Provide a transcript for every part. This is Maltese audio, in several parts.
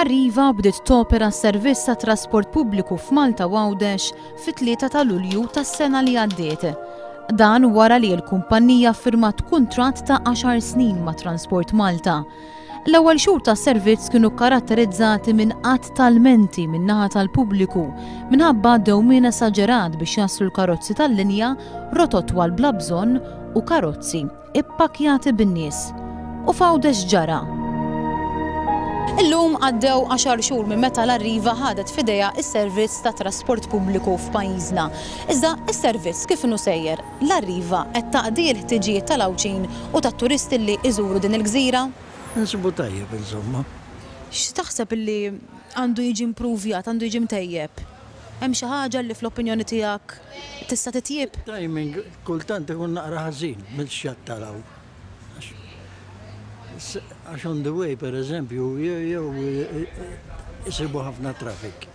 Arriva bdiet topera s-servizz ta' trasport pubbliku f'Malta u Għawdex fit-3 ta' Lulju tas-sena li għaddiet. Dan wara li l-kumpannija ffirmat kuntratt ta' għaxar snin ma' Transport Malta L-ewwel xhur tas-servizz kienu kkaratterizzati minn għadd ta' lmenti min-naħa tal-pubbliku minħabba dewmien esaġerat biex jaslu l-karozzi tal-linja, rotot twal bla bżonn u karozzi ippakkjati bin-nies. U f'Għawdex ġara. Illum għaddew għaxar xhur minn meta l-Arriva ħadet f'idejha s-servizz tat-trasport pubbliku f'pajjiżna. Iżda s-servizz kif inhu sejjer? L-Arriva qed taqdi l-ħtiġijiet tal-Għawdxin u tat-turisti li iżuru din il-gżira? Insibu tajjeb insomma. X'taħseb li għandu jiġi impruvjat, għandu jiġi mtejjeb? Hemm xi ħaġa li fl-opinjoni tiegħek tista' titjieb? It-timing kultant ikun naqra ħażin mill-xjatt taraw. Għax on the way pereżempju jew isibu ħafna traffic.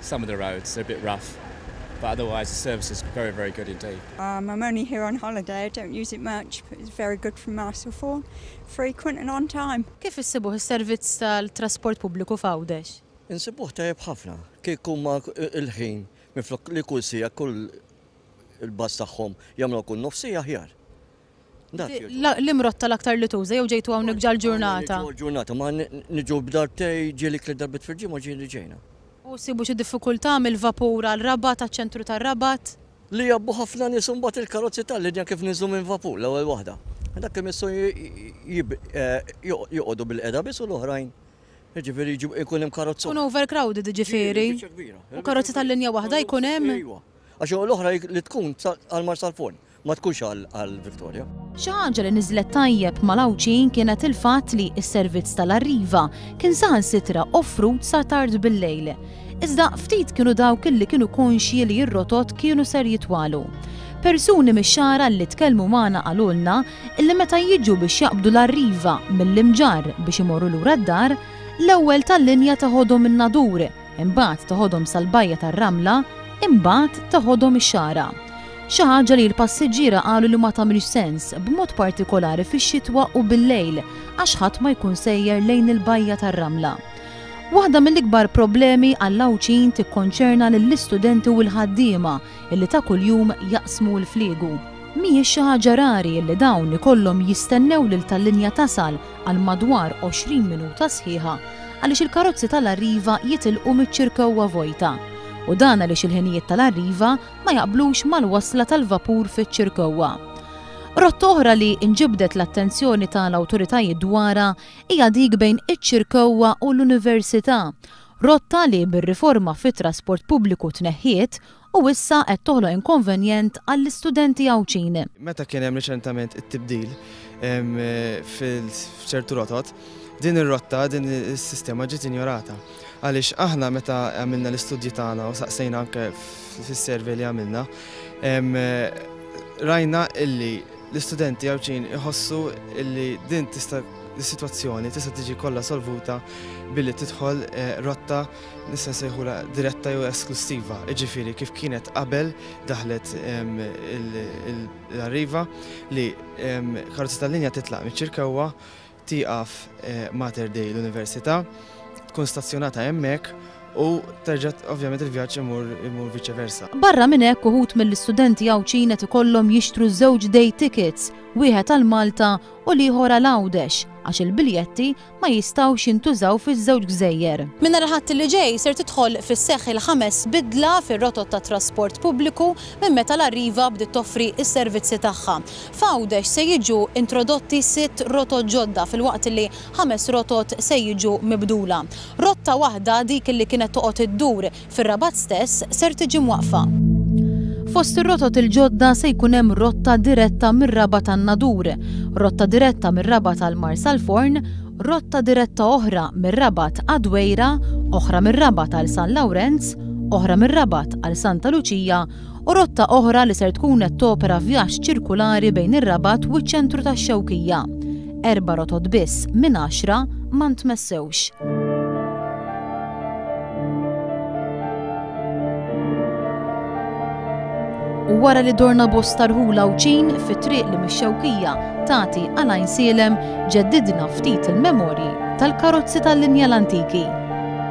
Some of the roads are a bit rough but otherwise the service is very very good indeed. Um I'm only here on holiday, I don't use it much but it's very good from Marsa Ford, frequent and on time. Kif issibuh is-servizz tal-trasport pubbliku f'Għawdex? Insibuh tajjeb ħafna. Kieku ma il-ħin minflok li kull siegħa kull il-bus tagħhom jagħmluha kull nofs siegħa aħjar. L-imrott tal-aktar li tuża jew ġejtu hawnhekk ġal-ġurnata? Ġurnata, ma niġu b'darbtej ġieli tliet darbiet fil-ġimgħa ġieli ġejna. U ssibu xi diffikultà mill-vapur għal Rabat, għaċ-ċentru tar-Rabat? Li jgħabbu ħafna nies u mbagħad il-karozzi tal-linja kif niżlu minn vapur l-ewwel waħda. Dak li missu joqogħdu bil-qiegħda biss u l-oħrajn jiġifieri jkun hemm karozza. Ikun overcrowded jiġifieri. U karozza tal-linja waħda jkun hemm? Iwa. Għax l-oħra li tkun għal Marsalforn. Ma tkunx għal Victoria. Xi ħaġa li niżlet tajjeb mal-Għawdxin kienet il-fatt li s-servizz tal-Arriva kien saħansitra offrut sa tard bil-lejl. Iżda ftit kienu dawk illi kienu konxji li r-rotot kienu ser jitwalu. Persuni mix-Xagħra li tkellmu magħna qalulna illi meta jiġu biex jaqbdu l-Arriva mill-Imġarr biex imorru lura d-dar, l-ewwel tal-linja teħodhom in-Nadur, Imbagħad teħodhom sal-bajja tar-ramla, imbagħad teħodhom ix-xagħra. Xi ħaġa li l-passiġġiera qalu li ma tagħmilx sens, b'mod partikolari fix-xitwa u bil-lejl, għax ħadd ma jkun sejjer lejn il-bajja tar-ramla. Waħda mill-ikbar problemi għall-Għawdxin tikkonċerna lill-istudenti u l-ħaddiema illi ta' kuljum jaqsmu l-fliegu. Mhijiex xi ħaġa rari illi dawn ikollhom jistennew lil tal-linja tasal għal madwar 20 minuta sħiħa għaliex il-karozzi tal-arriva jitilqu miċ-ċirkewwa vojta, u dan għaliex il-ħinijiet tal-arriva ma jaqblux mal-wasla tal-vapur fiċ-ċirkewwa. Rotta oħra li nġibdet l-attenzjoni tal-awtoritajiet dwarha hija dik bejn iċ-ċirkewwa u l-Università, rotta li bir-riforma fit-trasport pubbliku tneħħiet u issa qed toħloq inkonvenjent għall-istudenti Għawdxin. Meta kien hemm riċentament it-tibdil f'ċertu rotot, din ir-rotta, din is-sistema ġiet injorata. Għaliex aħna meta għamilna l-istudji tagħna u saqsejna anke fis-survey li għamilna, rajna illi l-istudenti Għawdxin iħossu illi din tista' is-sitwazzjoni tista' tiġi kollha solvuta billi tidħol rotta nistgħu nsejħulha diretta jew esklussiva, jiġifieri kif kienet qabel daħlet l-arriva li karozza tal-linja titlaq miċ-Ċirkewwa, tieqaf eh, Mater Dei l-Università, tkun stazzjonata hemmhekk u terġa' ovvjament il-vjaġġ imur imur viċe versa. Barra minn hekk uħud mill-istudenti Għawdxin qed ikollhom jixtru żewġ day tickets, wieħed għal Malta u l-ieħor għal Għawdex, għax il-biljetti ma jistgħux jintużaw fiż-żewġ gżejjer. Minn nhar il-Ħadd li ġej ser tidħol fis-seħħ il-ħames bidla fir-rotot tat-trasport pubbliku minn meta l-Arriva bdiet toffri s-servizzi tagħha. F'Għawdex se jiġu introdotti sitt rotot ġodda filwaqt li ħames rotot se jiġu mibdula. Rotta waħda, dik li kienet toqgħod iddur Fir-Rabat stess ser tiġi mwaqqfa. Fost ir-rotot il-ġodda se jkun hemm rotta diretta mir-Rabat għan-Nadur, rotta diretta mir-Rabat għal Marsalforn, rotta diretta oħra mir-Rabat għad-Dwejra, oħra mir-Rabat għal San Lawrenz, oħra mir-Rabat għal Santa Luċija, u rotta oħra li ser tkun qed topera vjaġġ ċirkulari bejn ir-Rabat u ċ-ċentru tax-Xewkija. Erba' rotot biss minn għaxra ma ntmessewx. u wara li dorna bosta rħula u ċin fit triq li mix-xewkija tagħti għalajn sielem ġeddidna ftit il-memorji tal-karozzi tal-linja l-antiki.